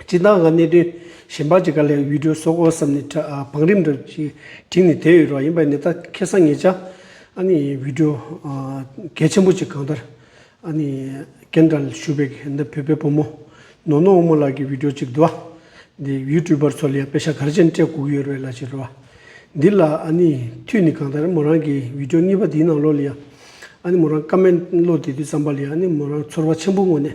སྤྱི་བཏང་གི་གནད་དོན་གཞན་པ་གཅིག་ག་ལེར་ཡུལ་གྲུ་བཟོ་དགོས་བསམ་ནས་བང་རིམ་འདྲ་གཅིག་བྲིས་ནས་དེ་ཡོད་རོགས་ཡིན་པ་ནི་ད་ཁེ་སང་ངེད་ཅག་ཨ་ནི་ཡུལ་གྲུ་གལ་ཆེན་པོ་གཅིག་གང་ལྟར་ཨ་ནི་རྒན་དྲ་ལ་ཞུགས་པའི་འདི་བོད་པའི་བུ་མོ་ནོར་ནོར་དབུ་མོ་ལགས་ཀྱི་ཡུལ་གྲུ་གཅིག་འདུག་ཨ་འདི་ཡུལ་གྲུ་པར་ཚོ་ལ་ཡང་དཔེ་ཤ་གར་ཅན་སྤྲད་བསྒུགས་ཡོད་རེད་ལ་ཕྱི་རོལ་བ་འདི་ལ་ཨ་ནི་མཐུད་ནས་གང་ལྟར་མོ་རང་གི་ཡུལ་གྲུ་གཉིས་པ་འདིའི་ནང་ལོགས་ལ་ཡང་ཨ་ནི་མོ་རང་ཀ་མེད་བློ་བདེ་དུས་བསམ་པ་ལ་ཡང་ཨ་ནི་མོ་རང་ཚོར་བ་ཆེན་པོ་ངོ་ནས་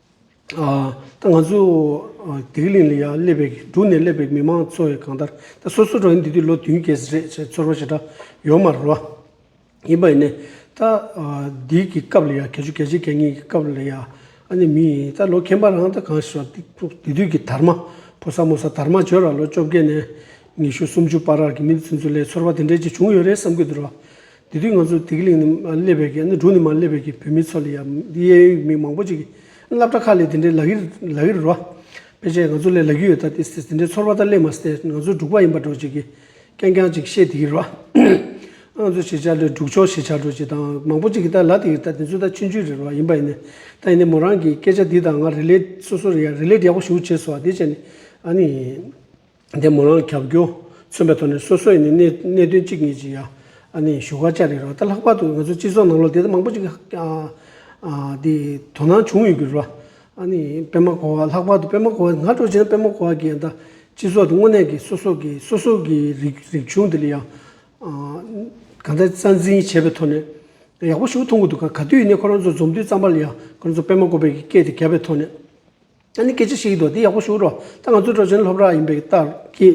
ད་ང་ཚོ་དེ་གླིང་ལ་ཡང་སླེབས་པའི་འབྲུག་ནས་སླེབས་པའི་མི་མང་ཚོ་ཡང་གང་ལྟར་ད་སོ་སོ་རང་འདི་དུས་ལོ་བདུན་བརྒྱད་ཟེར་རེད་ཅེས་ཚོར་བ་ཞེ་དྲག་ཡོད་མ་རེད་བ། ཡིན་པ་ཡིན་ནས་ད་འདིའི་གི་སྐབས་ལ་ཡང་གལ་ཆུ་གལ་ཆེ་གལ་ངེས་ཀྱི་སྐབས་ལ་ཡང་ཨ་ནེ་མི་ཡིན་ད་ལོ་ཁྱེད་པ་རང་ད་གང་ཞེས་བ་དེ་དུས་གི་དར་མ་ཕོ་ས་མོ་ས་དར་མ་བྱོས་ར་ལོ་བཅོ་བརྒྱད་ནས་ཉི་ཤུ་སུམ་ཅུ་བར་ར་གི་མི་འདི་ཚོའི་ཚོ་ལས་ཚོར་བ་དེ་འདྲས་ཅིག་བྱུང་ཡོད་རེད་བསམ་གྱི་འདུག་ར། དེ་དུས་ང་ཚོ་དིག་ལིང་ནས་མ་སླེབས་པའི་གནས་དྲུང་ནས་མ་སླེབས་པའི་བོད་མི་ཚོ་ལ་ཡང་གཡས་གཡོན་མི་མང་པོ་ཅིག་གིས་སླབ་གྲྭ་ཁག་ལས་དེ་འདྲའི་ལག་གཡེར་ལག་གཡེར་རོ། ཕལ་ཆེར་ང་ཚོ་ལས་ལག་གཡུ་ཡོད་ད་དེ་དེ་འདྲའི་ཚོར་བ་ད་སླེབས་མ་སྟེ་ང་ཚོ་འབྲུག་པ་ཡིན་པར་འགྲོ་ཅིག་གིས་རྐྱང་རྐྱང་ཅིག་བཤད་དེ་གི་རོ། ཨང་ཚོ་བྱེད་བྱ་ལོས་འབྲུག་ཆོག་བྱེད་བྱ་འགྲོ་ཅིག་ད་མང་པོ་ཅིག་གིས་ད་ལ་དེ་གི་ད་དེ་ཚོའི་ད་ཕྱི་འཇུས་རེད་རོ་ཡིན་པ་ཡིན་ནས་ད་ཡིན་ནས་མོ་རང་གིས་སྐད་ཆ་དེ་དང་ང་རེ་ལས་སོ་སོར་རེ་ལས་ཡག་པོ་ཞུ་ཆེ་སོ་བ་དེ་བྱས་ནས་ཨ་ནི། འདས་མོ་རང་གྱ་གྱོ་མཚོན་པའི་ཐོག་ནས་སོ་སོ་ཡི་ནས་གནད་དོན་གཅིག་གཉིས་ཅི་ཡ་ནས་ཞུ་ཁ་ཅག་རེད་རོ་ད་ལྷག་པར་དུ་ང་ཚོའི་སྤྱི་ཚོགས་ནང་ལོ་དེ་མང་པོ་ཅིག་དེ་དོ་སྣང་བྱུང་ཡོད་གི་རོ་པད་མ་གོ་བ་ལྷག་པར་དུ་པད་མ་གོ་བ་ང་སྤྲོ་བྱས་ན་པད་མ་གོ་བ་གྱི་སྤྱི་ཚོགས་དེ་དངོས་གནས་ཀྱི་སོ་སོ་གི་སོ་སོ་གི་རིག་གཞུང་དེ་ལ་ཡང་ག་འདྲ་རྩ་འཛིན་བྱས་པའི་ཐོག་ནས་ཡག་པོ་ཞུ་མཐོང་གི་འདུག་ག་ག་དུས་ཡིན་ནས་ཁོ་རང་ཚོ་འཛོམས་དུས་ཙམ་པ་ལ་ཡང་ཁོ་རང་ཚོ་པད་མ་གོ་བའི་སྐད་དེ་བརྒྱབ་པའི་ཐོག་ནས། ཨ་ནི་སྐད་ཆ་ཞིག་ཡིན་འདུག་དེ་ཡག་པོ་ཞུ་རོགས་ད་ང་ཚོའི་གྲོ་ཆེན་སློབ་ར་ཡིན་པའི་ལྟར་གྱི་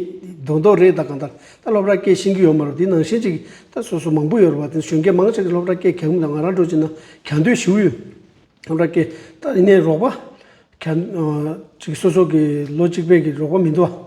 རྡོག་རྡོག་རེད་ད་གང་ལྟར་ད་སློབ་ར་སྐྱེལ་ཤིང་གི་ཡོད་མ་རེད་དེ་ནང་བཞིན་ཅིག་ད་སོ་སོ་མང་པོ་ཡོད་རེད་བ་དེ་གཞོན་སྐྱེས་མང་ཆེ་གི་སློབ་ར་སྐྱེལ་གྱ་གུམ་དང་ང་རང་གྲོ་ཆེན་ན་གྱ་འདོད་ཞུ་ཡོད་སློབ་ར་སྐྱེལ་ད་ཡིན་ནའི་རོགས་པ་གྱ་ཅིག་སོ་སོ་གི་ལོ་གཅིག་པའི་གི་རོགས་པ་མི་འདུག་བ།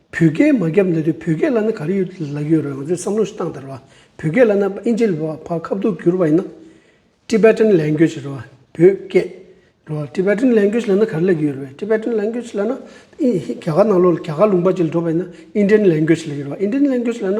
བོད་སྐད་མ་རྒྱབ་ན་དུས་བོད་སྐད་བླ་ན་ག་རེ་ཡོད་དེ་ལབ་ཡོད་རེད་ང་ཚོས་བསམ་བློ་ཞིག་བཏང་དེར་བ་བོད་སྐད་བླ་ན་ཨིན་ཇི་ལི་བ་ཕ་ཁ་བསྡུར་བསྒྱུར་བ་ཡིན་ན། Tibetan Language། རེད་བ་བོད་སྐད། རེད་བ Tibetan Language བླ་ན་ག་རེ་ལབ་ཀྱི་ཡོད་རེད་བ Tibetan Language བླ་ན་རྒྱ་གར་ནང་ལོགས་ལ་རྒྱ་གར་ལུང་པ་ཅིག་ལ་འགྲོ་བ་ཡིན་ན Indian Language ལབ་ཀྱི་རེད་བ Indian Language བླ་ན།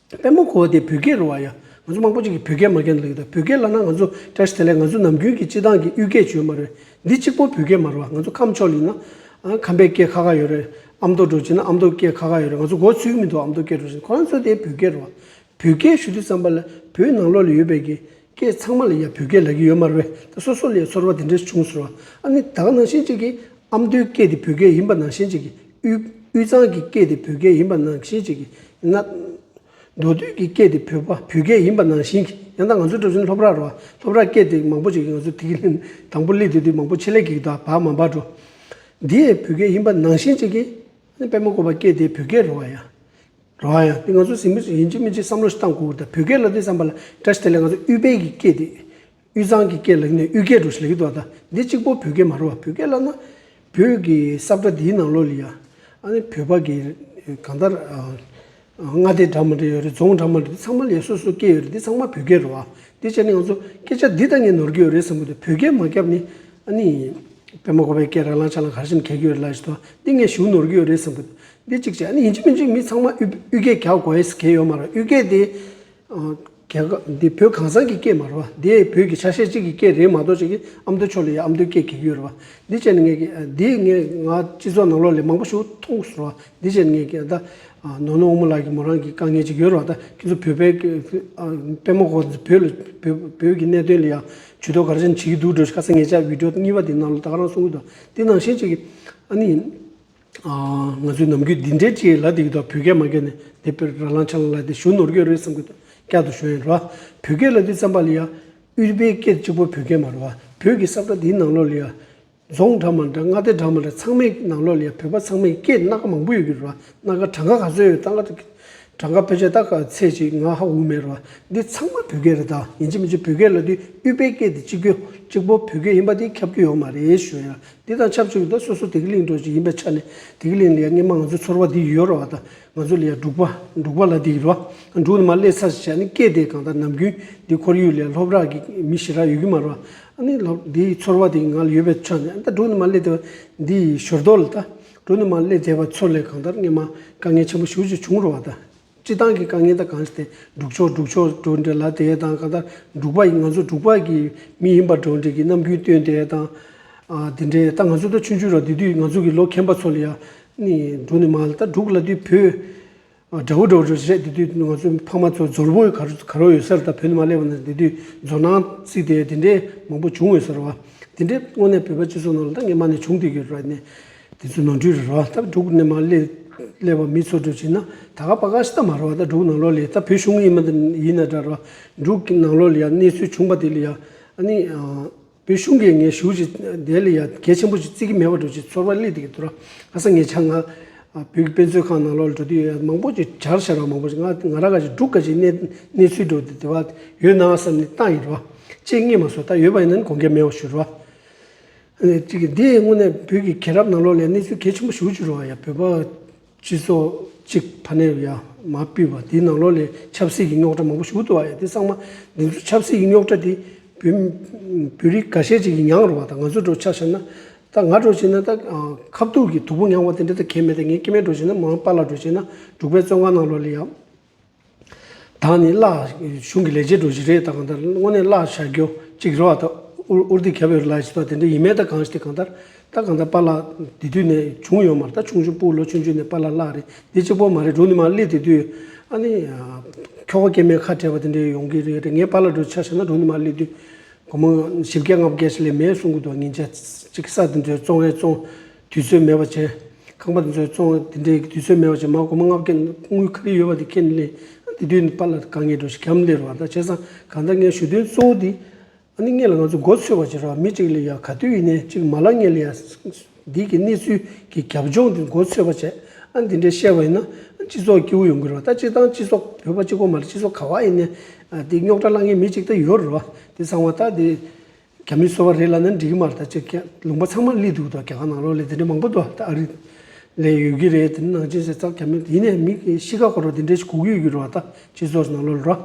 དཔལ་མོ་གོ་བ་དེ་བོད་སྐད་རུ་བ་ཡ། ང་ཚོ་མང་པོ་ཅིག་གིས་བོད་སྐད་མ་ཁེངས་ལ་ལུགས་ད་བོད་སྐད་ལ་ན་ང་ཚོ་ཀྲེས་དེ་ལས་ང་ཚོ་ནམ་རྒྱུན་གྱི་སྤྱི་བཏང་གི་དབུས་སྐད་བྱོས་མ་རེད། འདི་གཅིག་པོ་བོད་སྐད་མ་རུ་བ་ང་ཚོ་ཁམས་ཕྱོགས་ལིན་ན། ཁམས་པའི་སྐད་ཁ་ཁ་ཡོད་རེད། ཨ་མདོ་འགྲོ་ཅིག་ན་ཨ་མདོ་སྐད་ཁ་ཁ་ཡོད་རེད་ང་ཚོ་གོ་ཚུལ་མི་འདུག་ཨ་མདོ་སྐད་འགྲོ་ཅིག་ཁོ་རང་ཚོ་དེ་བོད་སྐད་རུ་བ། བོད་སྐད་ཞུ་དུས་ཙམ་པ་ལ་བོད་ནང་ལོགས་ལ་ཡོད་པའི་གི་སྐད་ཚང་མ་ལ་ཡ་བོད་སྐད་ལབ་གི་ཡོད་མ་རུ་བས་ད་སོ་སོ་ལ་ཡ་ཚོར་བ་དེ་འདྲས་བྱུང་ཟུར་བ། ཨ་ནི་ད་ག་ནང་བཞིན་ཅིག་གིས་ཨ་མདོའི་སྐད་དེ་བོད་སྐད་ཡིན་པ་ནང་བཞིན་ཅིག་གིས་དབུས་གཙང་གི་སྐད་དེ་བོད་སྐད་ཡིན་པ་ནང་བཞིན་གཅིག་ཡིན་ན། མདོ་སྟོད་ཀྱི་སྐད་དེ་བོད་བོད་སྐད་ཡིན་པ་ནང་བཞིན་གཅིག་ཡང་ད་ང་ཚོའི་གྲུ་གཟིངས་ལྷོ་བྲག་རོ་ལྷོ་བྲག་སྐད་དེ་མང་པོ་ཅིག་ང་ཚོ་དིག་ལེན་དང་པོ་ལི་དེ་དུས་མང་པོ་ཆེ་ལེགས་ཀྱིས་ད་བག་མ་བག་འགྲོ། འདི་ཡང་བོད་སྐད་ཡིན་པ་ནང་བཞིན་གཅིག་ཡིན་ན་དཔལ་མོ་ཀོ་བ་སྐད་དེ་བོད་སྐད་རོ་བ་ཡང་རོ་བ་ཡང་དེ་ང་ཚོ་གཟིངས་མི་ཡིན་གཅིག་མིན་གཅིག་བསམ་བློ་ཞིག་བཏང་གོ་ད་བོད་སྐད་ལ་དེ་བསམ་པ་ལ་དགྲ་ཞིག་དེ་ལ་ང་ཚོ་དབུས་བལ་གྱི་སྐད་དེ། དབུས་གཙང་གི་སྐད་ལེགས་ནས་དབུས་སྐད་འགྲོ་ཞིག་ལེགས་ཏུ་ཨ་ད་འདི་གཅིག་པོ་བོད་སྐད་མ་རེད་བ་བོད་སྐད་བསླབ་ན་བོད་ཀྱི་སྲབ་སྒྲ་འདིའི་ནང་ལོགས་ལ་ཡང་ཨ་ནི་བོད་པ་གི་གང་ལྟར་མངའ་སྡེ་འདྲ་མ་འདྲ་ཡོད་རེད་རྫོང་འདྲ་མ་འདྲ་འདི་ཚང་མ་ལ་ཡང་སོ་སོའི་སྐད་ཡོད་རེད་འདི་ཚང་མ་བོད་སྐད་རེད་བ་དེ་བྱས་ནས་ང་ཚོ་སྐད་ཆ་འདི་ལྟ་ངས་ནོར་གྱི་ཡོད་རེད་བསམ་གི་འདུག་བོད་སྐད་མ་བསྐྱབས་ནི་ཨ་ནི་དཔེ་མ་གོ་བའི་སྐད་ར་ལང་ཆ་ལང་ག་རེ་བྱེད་ནས་གས་ཀྱི་ཡོད་རེད་ལ་ཞེས་དང་འདི་ངས་ཞུ་ནོར་གྱི་ཡོད་རེད་བསམ་གི་འདུག་འདི་གཅིག་བྱས་ཨ་ནི་ཡིན་གཅིག་མིན་གཅིག་མི་ཚང་མ་དབུས་སྐད་ག་གོ་ཨེ་ཟེར་གས་ཡོད་མ་རེད་དབུས་སྐད་དེ་རྒྱལ་ཁབ་འདི་བོད་གང་ཟག་གི་སྐད་མ་རེད་བ། འདི་བོད་ཀྱི་ཆ་ཤས་གཅིག་གི་སྐད་རེད་མ་གཏོགས་གཅིག་གིས་ཨ་མདོ་ཕྱོགས་ལ་ཡང་ཨ་མདོའི་སྐད་གི་ཡོད་རེད་བ། འདི་བཅས་ནི་ངས་ཀྱི། འདི་ངས་ང་སྤྱི་ཚོགས་ནང་ལོགས་ལས་མང་པོ་ཞིག་མཐོང་སོང་བ། འདི་བཅས་ནི་ངས་ཀྱི་ད། ནོར་ནོར་དབུ་མོ་ལགས་ཀྱི་མོ་རང་གི་དཀའ་ངལ་གཅིག་ཡོད་རེད་བ་ད་ཁྱེད་ཚོ་བོད་པའི་སྐད། དཔོན་མོ་ཁོང་ཚོ་བོད་ལ་བོད་ཀྱི་གནད་དོན་ལ་ཡང་ཇུས་གཏོགས་ག་རེ་ཅན་བྱེད་ཀྱི་འདུག་འགྲོ་ཤག་ས་ངེད་ཅག་བིད་འགྲོ་གཉིས་པ་དེ་ནང་ལ་ད་ག་རང་གསུང་གི་འདུག་འདི་ནང་བཞིན་གཅིག་གིས་ཨ་ནི། ང་ཚོའི་ནམ་རྒྱུན་འདི་འདྲའི་ལྕེ་ཡིས་ལ་དེ་གི་ཐོག་བོད་སྐད་མ་བསྐྱལ་ནས་དེ་ཕེར་ར་ལང་ཆ་ལང་ལ་དེ་ཞུ་ནོར་གྱོད་རེད་བསམ་གི་ཐོག་བསྐྱལ་དུ་ཞོན་ཡོད་རེད་བ། བོད་སྐད་ལ་དེ་བརྩམས་པ་ལ་ཡ། དབུས་པའི་སྐད་གཅིག་པོ་བོད་སྐད་མ་རེད་བ། བོད་ཀྱི་སྲབ་ཁྲ་དེའི་ནང་ལོགས་ལ་ཡ། རྫོང་འདྲ་མ་འདྲ་མངའ་སྡེ་འདྲ་མ་འདྲ་ཚང་མའི་ནང་ལོགས་ལ་ཡ་བོད་པ་ཚང་མའི་སྐད་སྣ་ཁ་མང་པོ་ཡོད་ཀྱི་རེད་བ། སྣ་ཁ་གྲངས་ཀ་ག་ཚོད་ཡོད་ད་ང་ད་གི། གྲངས་ཀ་ཕལ་ཆེར་ད་ག་ཚད་ཅིག་ང་ཧ་འུ་མེད་རེད་བ། འདི་ཚང་མ་བོད་སྐད་རེད་ད་ཡིན་གཅིག་མིན་གཅིག་བོད་སྐད་ལ་དེ་དབུས་པའི་སྐད་དེ་གཅིག་པོ་གཅིག་པོ་བོད་སྐད་ཡིན་པ་དེ་ཁྱབ་རྒྱུ་ཡོད་མ་རེད་ཞོན་ཡོད་རེད། དེ་དང་ཆབས་ཅིག་ཏུ་སོ་སོ་དེ་གའི་གླིང་གྲོགས་ཅིག་ཡིན་པའི་ཆ་ནས་དེ་གའི་གླིང་ལ་ཡང་སྙེ་མ་ང་ཚོའི་ཚོར་བ་འདི་ཡོད་རེད་བ་དང་ང་ཚོ་ལ་ཡང་འབྲུག་པ་འབྲུག་པ་ལ་འདི་ཡོད་རེད་བ་དང་འབྲུག་ནི་མ་སླེབས་ཚར་ཞེས་བྱ་ནི་སྐད་དེ་གང་ལྟར་ནམ་རྒྱུན་འདིའི་ཁོར་ཡུག་ལས་ལྷོབ་རག་གི་མི་ཞེ་དྲག་ཡོད་ཀྱི་མ་རེད་བ། ཨ་ནི་ལྷོབ་འདིའི་ཚོར་བ་དེ་ང་ལ་ཡོད་པའི་ཆ་ནས་ཨ་ད་འབྲུག་ནི་མ་སླེབས་དེ་བ་འདི་ཡི་ཞོར་དོར་ལ་ད་འབྲུག་ནི་མ་སླེབས་དེ་བ་ཚོར་ལས་གང་ལྟར་སྙེ་མ་དཀའ་ངལ་ཆེན་པོ་ཞུགས་ཅིག་བྱུང་རེད་བ་དང། སྤྱི་བཏང་གི་དཀའ་ངལ་དང་གང་སྟེ་སྒྲུག་ཆོག་སྒྲུག་ཆོག་གྲོས་འབྲེལ་ལ་དེ་དང་གང་ལྟར་འབྲུག་པ་ཡིན་ང་ཚོ་འབྲུག་པ་གི་མི་ཡིན་པར་གྲོས་འབྲེལ་གྱི་རྣམ་འགྱུར་སྟོན་དེ་དང་དེ་འདྲའི་ད་ང་ཚོ་ད་ཆུང་ཆུང་ར་དེ་དུས་ང་ཚོ་གི་ལོ་ཁེངས་པ་ཚོ་ལ་ཡང་འབྲུག་ནི་མ་ད་འབྲུག་ལ་དུས་བོད་དགྲ་བོ་དགྲ་བོ་རེད་རེད་དེ་དུས་ང་ཚོ་ཕ་མ་ཚོ་འབྱོར་བོ་ག་རུ་ག་རུ་ཡོད་སར་ད་བོད་ནི་མ་སླེབས་པ་ན་དེ་དུས་འབྱོར་ནང་བརྩིས་ཏེ་དེ་འདྲའི་མང་པོ་བྱུང་ཡོད་སར་བ་དེ་འདྲའི་སྔོན་ནས་བོད་པ་སྤྱི་ཚོགས་ནང་ལ་ད་ངེད་མ་ནས་བྱུང་དུས་ཀྱི་ར་ནས། དེ་ཚོའི་ནང་ཁྲོལ་རེ་རོ་ད་དྲུག་གནས་མ་སླེབས་པ་མི་ཚོ་སྒྲུབ་བྱེད་ན་ད་ག་པ་ག་ཤི་ད་མ་རོ་བ་ད་དྲུག་ནང་ལོག་ལས་ད་བོད་གཞུང་ཡིན་མ་ད་ཡིན་ན་དྲ་རོ་དྲུག་གི་ནང་ལོག་ལས་ཡ་གནས་ཚུལ་བྱུང་པ་དེ་ལས་ཡ་ཨ་ནི་བོད་གཞུང་གིས་ངས་ཞུ་བྱེད་དེ་ལས་ཡ་གལ་ཆེན་པོ་ཞིག་བརྩི་གི་མེད་པ་འགྲོ་བྱེད་ཚོར་བ་སླེ་དེ་གི་དུ་ར་ཨ་ས་ངས་ཆ་ང་བོད་ཀྱི་དཔེ་མཛོད་ཁང་ནང་ལོག་ལས་འགྲོ་དུས་ཡ་མང་པོ་ཅིག་བྱར་ཤར་བ་མང་པོ་ཅིག་ང་ང་ར་ག་ཅིག་དྲུག་ག་ཅིག་གནས་གནས་ཚུལ་འགྲོ་དུས་དེ་བ་ཡོད་ནའང་བསམ་ནས་བཏང་ཡིན་རོ་བ་ཅེས་སྔས་མ་སོ་ད་ཡོད་པ་ཡིན་ན་ནི་གོང་གལ་མེད་བ་ཞུ་རོ་བ། གཅིག་འདི་དངོས་གནས་བོད་ཀྱི་གས་རབ་ནང་ལོག་ལས་གནས་ཚུལ་གལ་ཆེན་པོ་ཞུ་ཅི་རུ་བ་ཡ་བོད་པ་སྤྱི་ཚོགས་གཅིག་ཕ་ནས་ཡ་མ་སྤུས་པ་འདི་ནང་ལོག་ལས་ཆབ་སྲིད་ཀྱི་རྙོག་དྲ་མང་པོ་ཞུ་ཏུ་བ་ཡ་འདི་སང་མ་འདི་ཚོ་ཆབ་སྲིད་ཀྱི་རྙོག་དྲ་འདི་བོད་བོད་རིགས་ག་ཤེད་ཅིག་གི་མྱངས་རུ་བ་ད་ང་ཚོ་འགྲོ་ཆག་ཤར་ན་ད་ང་འགྲོ་བྱེད་ན་ད་ཁ་བཏུག་གི་དུག་པོ་མྱངས་བ་དེ་འདྲ་ད་གས་མེད་ད་ངས་སྐྱེ་མེད་འགྲོ་བྱེད་ན་མང་པ་ལ་འགྲོ་བྱེད་ན་འབྲུག་པའི་བཙོན་ཁང་ནང་ལོག་ལས་ཡ། ད་ནི་བརླག་གཞུང་གི་ལས་བྱེད་འགྲོ་གཞི་རེད་ད་གང་ལྟར་དངོས་གནས་བརླག་བྱ་རྒྱུ་གཅིག་རེད་བ་ད་འུར་འུར་དེ་གབ་ཡོད་རེད་ལ་ཞེས་པ་དེ་འདྲ་ཡིན་མེད་ད་གང་ཞིག་དེ་གང་ལྟར་ད་གང་ལྟར་པཱ་བརླག་དེ་དུས་ནས་བྱུང་ཡོད་མར་ད་ཆུང་ཆུང་སྤུག་ལོ་ཆུང་ཆུང་ནས་པཱ་བརླག་བརླག་རེད་དེ་གཅིག་པོ་མ་རེད་འབྲུག་ནི་མ་བརླིག་དེ་དུས་ཨ་ནི་ཁྱོ་ག་སྐྱེས་མའི་ཁ་བྲལ་བ་དེ་འདྲ་ཡོང་གི་རེད་རེད་ངས་པཱ་བརླག་འགྲོ་ཆ་བྱས་ན་འབྲུག་ནི་མ་བརླིག་དུས་སྒོར་མོ་བཞི་བརྒྱ་ལྔ་བརྒྱ་ཞིག་ལས་མེད་གསུང་གི་འདུག་ཉིན་བརྒྱ་གཅིག་གི་ས་དེ་འདྲའི་བཙོང་རེ་བཙོང་དུས་ཚོད་མེད་པ་བྱས། ཁང་པ་དེ་ཚོའི་བཙོང་བ་དེ་འདྲའི་དུས་ཚོད་མེད་པ་བྱས་མ་གོ་མ་ལྔ་བརྒན་དངུལ་ཁ་རི་ཡོད་པ་དེ་ཁྱེད་ལས་འདི་དུས་ནི་པར་ལ་དཀའ་ངལ་འགྲོ་ཞེས་གམ་ལས་རུ་བ་དང་བྱས་ཙང་གང་ལྟར་ངའི་ཞུ་དོན་གཙོ་བོ་འདི་ཨ་ནི་ངེད་ལ་ང་ཚོ་མགོ་འཚོས་བར་བྱེད་རོགས་མི་གཅིག་ལས་ཡག་ག་དུས་ཡིན་ནའི་གཅིག་མ་ལ་ངེད་ལ་ཡག་འདི་གི་གནས་ཚུལ་གྱི་རྒྱབ་ལྗོངས་འདི་མགོ་འཚོས་བར་བྱས་ཨ་འདི་འདྲའི་བཤད་པ་ཡིན་ན་སྤྱི་ཚོགས་སྐྱིད་བོ་ཡོང་གི་རོགས་ད་སྤྱི་བཏང་སྤྱི་ཚོགས་བོད་པ་སྤྱི་གོ་མ་ལ་སྤྱི་ཚོགས་ག་བ་ཡིན་ནའི་འདི་རྙོག་དྲ་བསླང་མཁན་མི་གཅིག་ད་ཡོད་རོགས་འདི་གསང་བ་ད་འདི། རྒྱ་མིའི་སོ་བ་རེད་ལ་ནི་འགྲིག་གི་མ་རེད་ད་ཅི་རྒྱ་ལུང་པ་ཚང་མ་གླིག་འདུག་ད་རྒྱ་གར་ནང་ལོག་ལས་དེ་འདྲས་མང་པོ་འདུག་ད་ཨ་རི་ལས་ཡོད་ཀྱི་རེད་དེ་ནི་ནང་ཆེན་ཟེར་ཙང་རྒྱ་མི་དེ་ནས་མི་གཤིས་ཀ་འཁོར་བ་དེ་འདྲས་ཞིག་གུག་ཡོད་ཀྱི་རེད་བ་ད་སྤྱི་ཚོགས་ནང་ལོག་རོགས་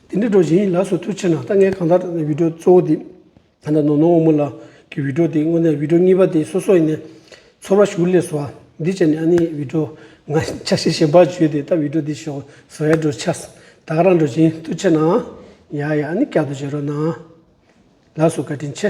དེ་འདྲས་འགྲོ་བཞིན་ཡིན་ལགས་སོ་དུས་ཕྱིན་ན་ད་ངས་གང་ལྟར་བིད་འགྲོ་གཙོ་བོ་དེ་ད་ནོ་ནོ་འོ་མོ་ལགས་ཀྱི་བིད་འགྲོ་དེ་དངོས་གནས་བིད་འགྲོ་གཉིས་པ་དེ་སོ་སོ་ཡིན་ནས་ཚོར་བ་ཞུ་ལས་སོ་འདི་བྱས་ནས་ཨ་ནི་བིད་འགྲོ་ང་ཆ་ཤས་ཞན་པ་བྱོས་དེ་ད་བིད་འགྲོ་དེ་ཞོག་ཟེར་བས་འགྲོ་ཆ་ད་ག་རང་འགྲོ་བཞིན་དུ་ཕྱིན་ན་ཡ་ཡ་ཨ་ནི་བསྐྱར་དུ་བྱེད་རོགས་གནང། ལགས་སོ་བཀའ་དྲིན་ཆེ།